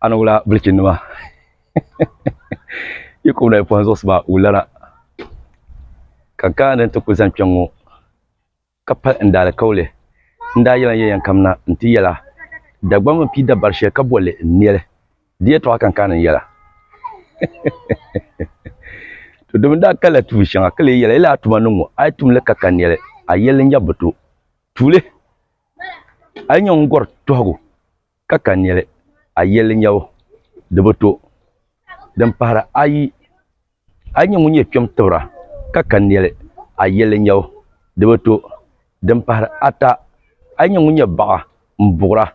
a ni wula bilichini maa yi ku wula yi pɔhim zuɣusiba wulana ka gaa ni ti kuli zani kpɛŋŋo ka pali n daalikauli n daa yɛla yɛn kam na n ti yɛla Dagbamba n pii dabari shɛli ka bolli n neli di yɛtɔɣa ka n kaani n yɛla to dimi daa kalla tuuli shɛŋa ka lee yɛla yi lahi tuma niŋ ŋo a yi tumli ka ka neli a yɛlli n-nya bi to tuuli A yi nya ŋun gɔri tɔhigu ka ka nɛli, a yɛli n-nya o, di bi to. Din pahira ayi, A yi nya ŋun nyɛ kpɛm tibira ka ka nɛli, a yɛli n-nya o, di bi to. Din pahiri ata, A yi nya ŋun nyɛ baɣa m-buɣira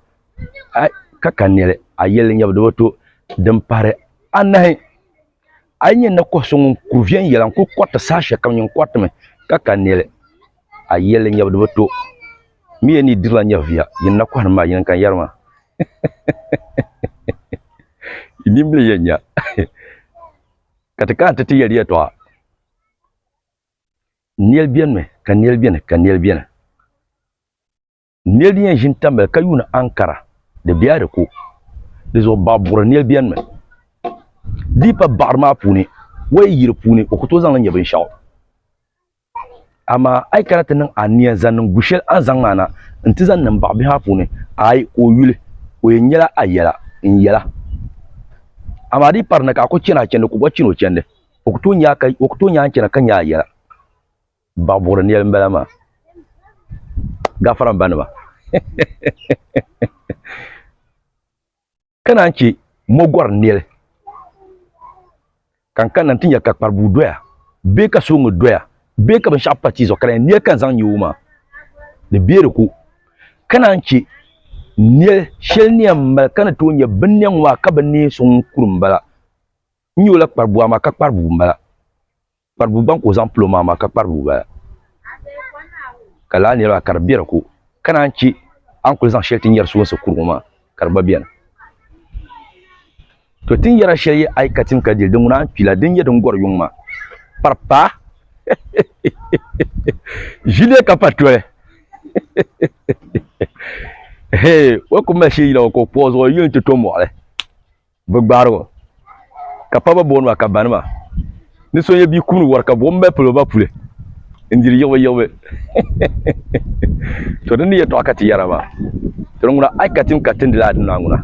ka ka nɛli, a yɛli n-nya o, di bi to. Din pahiri anahi. A yi nyɛ ni kɔhi so ŋun kuri viɛnyɛla n-kuli kɔriti saha shɛli kam, nyin kɔritimi ka ka nɛli. A yi yɛli li nyɛbu di bi to mi ya ni yi dirila nyɛviya, yin na kɔhiri maa, yin n-kan yɛri maa. Yi nimbili yɛn nya ka ti kana ti ti yɛli yɛtɔɣa. Nɛli benimi ka nɛli beni ka nɛli beni. Nɛli din yɛn ʒini tamili ka yuuni ankara di bɛya di ko di zuɣu baɣa buɣiri nɛli bɛni mi di yi pa baɣiri maa puuni o yi yi di puuni o ku tooi zaŋli nyɛ binshɛɣu amaa a yi kana ti niŋ ania zaŋ niŋ gu shɛli a ni zaŋ maa na n-ti zaŋ niŋ baɣa bihi maa puuni aai ka o yuli o yɛn nyɛla a yɛla n yɛla amaa di yi pari ni ka a ku chani a chandi ka o gba chani o chandi o ku tooi nya a ka o ku tooi nya a ni chana ka nya a yɛla Baɣibuɣiri nɛli m-bala maa. Gafara m ba nima. Ka naan chɛ mogɔri nɛli ka n kanna nti nya ka kparibua doya bee ka suliŋga doya bee ka binshɛɣu pa tia zuɣu ka di yɛn nɛli ka n zaŋ nya o maa, di be di ko. Ka naan chɛ nɛl shɛli ni yɛn mali ka ni tooi nya binnɛl ŋɔ maa ka bi neei so ŋun kuri m-bala. N nya o la kparibua maa ka kpari bua m-bala. Kpari bua gbaŋ ka o zaŋ pili o maŋ maa ka kpari bua bala. Ka lala niriba ka di be di ko. Ka naan che a ni kuli zaŋ sheli ti nyeri suwunsi kuri ŋɔ maa ka di gba beni. To tin yera sheli yi ayi ka tim ka dili di ŋuna n kpila din nye din gori yuŋ maa. Kpari paa heheheh ʒi dee ka pa toli heheheh heheheh o ku mali sheli yila ŋɔ ka o kpuɣi zuɣu yi yuli ti to moɣili. Bɛ gbaari o, ka pa ba booni ba ka banima. Ni so nyɛ bia kum ni wari ka buɣim mali pili o ba puli n-diri yiɣibuyiɣibu. To di ni yɛtɔɣa ka ti yɛra maa, Tiri ŋuna a yi ka tim ka tindi lala dinɔya ŋuna,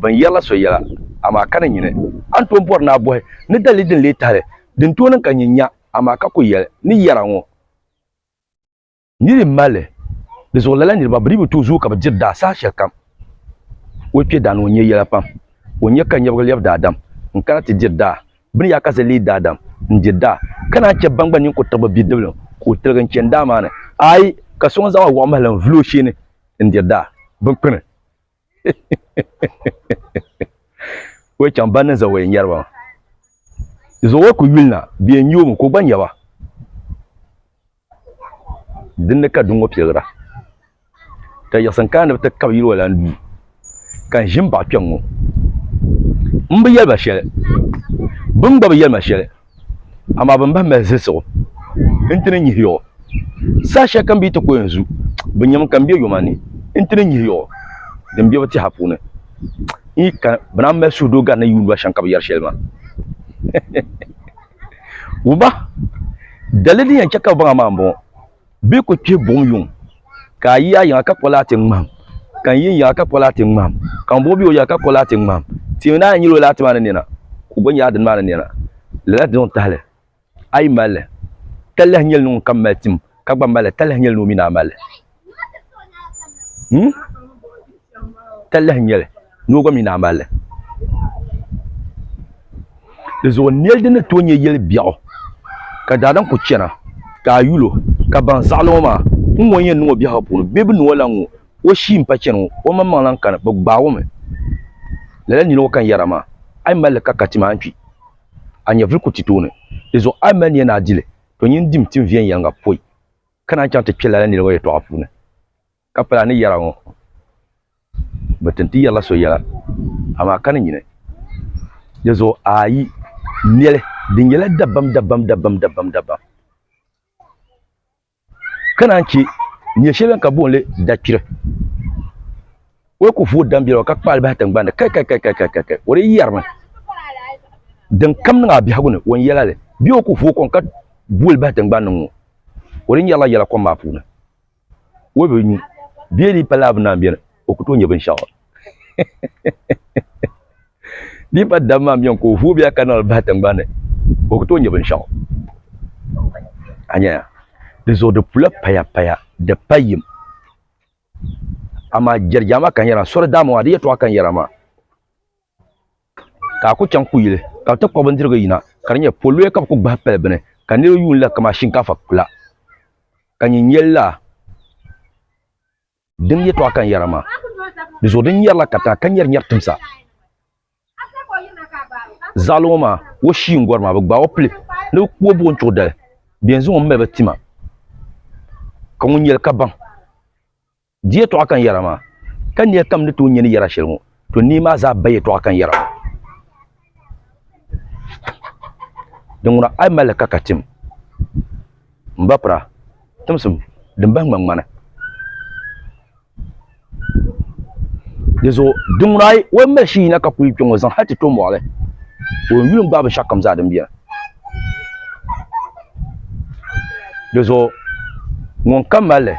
bɛ ni yɛrila so yɛla, amaa ka ni nyini. A ni tooi bɔri ni a bɔhi ni dalili din leei tahili din tooi niŋ ka nyin nya, amaa ka kul yɛli ni yɛra ŋɔ. Ni di mali di zuɣu lala niriba bi dii bi tooi zooi ka bi diri daa saha shɛli kam. O kpe daa ni o nya yɛla pam. O nya ka nyɛbiga lɛbi daadam n-kana ti diri daa. Bɛ ni yaa kasi leei daadam n-diri daa, ka naan chɛ ban gba nini kuri tiɣibu bidiblim ka o tiligi n-chani daa maa ni. Aai! Ka so ŋun zaŋ o wuɣimahili n-vuli o sheeni n-diri daa binkpini. o chaŋ ban ni za o yɛn nyɛri ba zuɣu o ku yuli na bɛ yɛn nyɛ o mi ka o gba nyɛ ba din ni ka duŋ ŋɔ piligira ka yiɣisim kana ni bi ti kabi yili o lan duu ka n ʒi n baɣa kpɛŋ ŋɔ n bi yɛli ba shɛli bɛ mi gba bi yɛli ma shɛli amaa bin bahi mali zilsigu n ti ni nyihi yiɣu saha shɛli kam bee ti ko n zu bi nyɛmi ka n bɛ yoma ni n ti ni nyihi yiɣu din bɛ bi tiɛha puuni n yi ka bi naan mali suhudoo gari ni yuundiba shɛm ka bi yɛri shɛli maa wumba daliya din yɛn chɛ ka bi baŋ a maa n bɔŋɔ bɛ ku kpihi buɣum yuŋ ka a yi a yiŋa ka kɔli a ti ŋmahim ka n yi n yiŋa ka kɔli a ti ŋmahim ka ŋun bɔŋɔ be o yiŋa ka kɔli a ti ŋmahim tiimi ni a yi nyili o laa ti maa ni nɛna ka o gba nyɛ a dini maa ni nɛna lala dini n tahili a yi mali li ka lahi nyeli ni ŋun kam mali tim ka gba mali li ka lahi nyeli ni o mi ni a mali li hmm ka lahi nyeli. noo gba mi daa mali li. Di zuɣu n neli dini tooi nyɛ yeli biɛɣu ka daadam kuli chana ka a yuli o ka baŋ zaɣili ŋɔ maa ŋun ŋɔ ni yɛn niŋ o biɛhigu puuni bee bɛ niŋ o lahi ŋɔ o shii m pa chani ŋɔ o maŋ maŋ lahi kani bɛ gbaagi o mi lala nili ŋɔ ka n yɛra maa a yi mali li ka ka tima a ni kpi a nyɛvuli kuli ti tooni di zuɣu a yi mali ni yɛn a dili to nyin dim tim viɛnyɛliŋga pɔi ka naan chaŋ ti kpe lala nili ŋɔ yɛtɔɣa puuni. Ka pala ni yɛra ŋɔ, bɛ tin ti yɛrila so yɛla, amaa ka ni nyini di zuɣu a yi neli din nyɛla dabam dabam dabam dabam dabam, ka naan che nyɛ shɛli bɛn ka boon li dakpiri, o yi ku vooi dam biɛligu ka kpaali bahi tiŋgbani ni, kai kai kai kai kai kai, o di yɛrimi din kam niŋ a biɛhigu ni o ni yɛla li, bee o ku vooi kɔŋ ka booli bahi tiŋgbani ni ŋ-ŋɔ, o di nyɛrila yɛla kom maa puuni. o bi nyu bee di pa laa bi naan beni o ku tooi nya binshɛɣu di pa dam maa beni ka o vooi bia ka niŋli bahi tiŋgbani o ku tooi nya binshɛɣu a nyaya di zuɣu di pula payapaya di pa yim amaa jɛrijaama ka n yɛra sori daa n bɔŋɔ a di yɛtɔɣa ka n yɛra maa ka a ku chaŋ kuyili ka bɛ ti kpuɣi bindirigu yina ka di nyɛ poloya ka bɛ kuli gbahi pali bini ka niriba yuuni la kamani shinkaafa kpula ka nyin nyɛ laa din yɛtɔɣa ka n yɛra maa di zuɣu din nyɛrila katiŋa ka nyɛri nyɛri timsa zaɣili ŋɔ maa o shii n-gɔri maa bɛ gbaai o pili ni bɛ ku o buɣim chuɣu dali bɛ yɛn zaŋ o m-mali ba ti ma ka ŋun nyɛ li ka baŋ. Di yɛtɔɣa kan yɛra maa, ka nia kam ni tooi nya ni yɛra shɛli ŋɔ, to nia maa zaa ba yɛtɔɣa kan yɛra maa. Di ŋuna a yi mali li ka ka tim, m ba pira, timsim din bahi ŋmaŋmani. Di zuɣu di ŋuna a yi mali shii yina ka kuli kpe ŋɔ zaŋ hal ti to mɔɣili, o yuli n-gbaai binshɛɣukam zaa din beni. Dizuɣu ŋun ka malli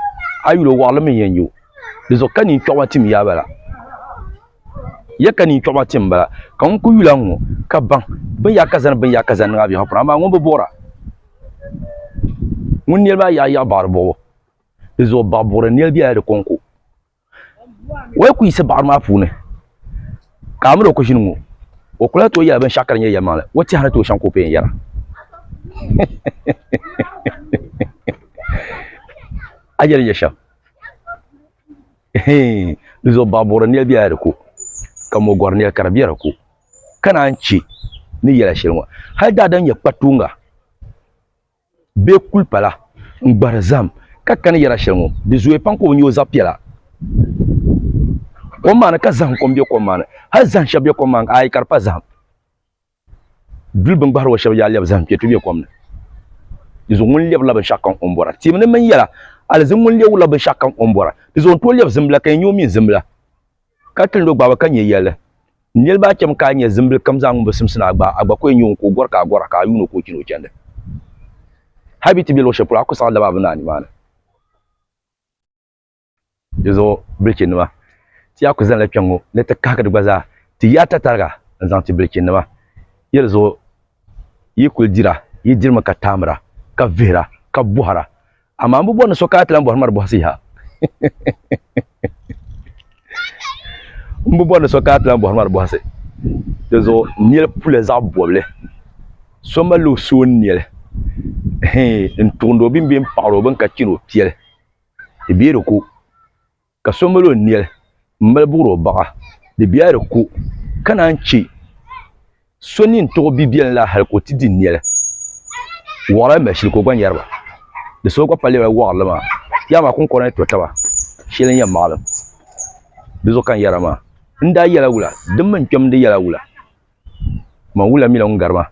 a yuli o waɣali mii n yɛn nyɛ o dizuɣu ka neen kpɛɣu maa tim yaa bala ya ka neen kpɛɣu maa tim n bala ka ŋun ku yuli a ŋɔ ka baŋ bin yaa ka zani bin yaa ka zani niŋ a biɛhagu puuni amaa ŋun bi boora ŋun nɛli maa yaɣa yaɣa baɣari bɔbu dizuɣu baɣa buɣuri nɛli biɛla di kɔŋko Wai ku yiɣisi baɣiri maa puuni ka a mini o ku ʒini ŋɔ, o kula tooi yɛla binshɛɣu ka di nyɛ yɛlimaŋli, o tɛha ni tooi shɛŋa ka o pii n-yɛra. A yɛli nya shɛm? Hii, di zuɣu baɣa buɣiri nɛl bela di ko, ka mɔ gɔri nɛl ka di be di ko, ka naan chɛ ni yɛla shɛli ŋɔ hali daadam nyɛ kpatuuŋga. bee kulipala n-gbahiri zahim ka kani yɛra shɛli ŋɔ, di zooya pam ka o nya o zaɣ piɛla kom maa ni ka zahim kom be kom maa ni. Hal zahim shɛb be kom maa ni, aai ka di pa zahim duli bɛ ni gbahiri o shɛb yaa lɛbi zahim kpɛtuhi be kom ni. Dinzuɣu ŋun lɛbirila binshɛɣu kam o ni bɔra tibu ni mini yɛla, aliziŋ ŋun lɛbirila binshɛɣu kam o ni bɔra. Dinzuɣu n tooi lɛbi zimbila ka yɛn nya o mini zimbila. Ka tilindi o gbahibu ka nyɛ yɛli, Niriba a chɛmi ka a nya zimbili kam zaa ŋun bi simsi ni a gbaai, a gba ku yɛn nya o ka o gɔri ka a gɔra, ka a yuuni o ka o chani o chandi. Hali bɛ yi ti be luɣ shɛli polo, a ku saɣi laba a bi naai nimaani. Di zuɣu bilichinima, ti yaa ku zanila kpɛŋŋo ni ti kahigi di gba zaa, ti yi a tatariga n-zaŋ ti bilichinima yɛlizuɣu. yi kuli dira yi dirimi ka taamira ka vihira ka bɔhira amaa m bi bɔri ni so ka a ti lan bɔhiri ma di bɔhisi yaha m bi bɔri ni so ka a ti lan bɔhiri ma di bɔhisi di zuɣu nɛli pula zaɣ bɔbili so mali o so nɛli n tuɣindi o bini bɛ n paɣiri o bini ka chɛri o piɛli di bɛ di ko ka so mali o nɛli m-mali buɣiri o baɣa, di bɛya di ku, ka naan chɛ so nini tuɣi bi biɛlim la hal ka o ti di nɛli. Waɣila mali shili ka o gba nyari ba, di so gba pa lɛbila waɣirili maa, yaha maa kuŋkɔrina ni to taba shɛli n-yɛn maɣilim di zuɣu ka n yɛra maa. N daa yɛla wula, di mini n kpɛm di yɛla wula, man wula mila ŋun gari ma,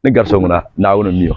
ni gari so ŋuna, Naawuni m-mi o.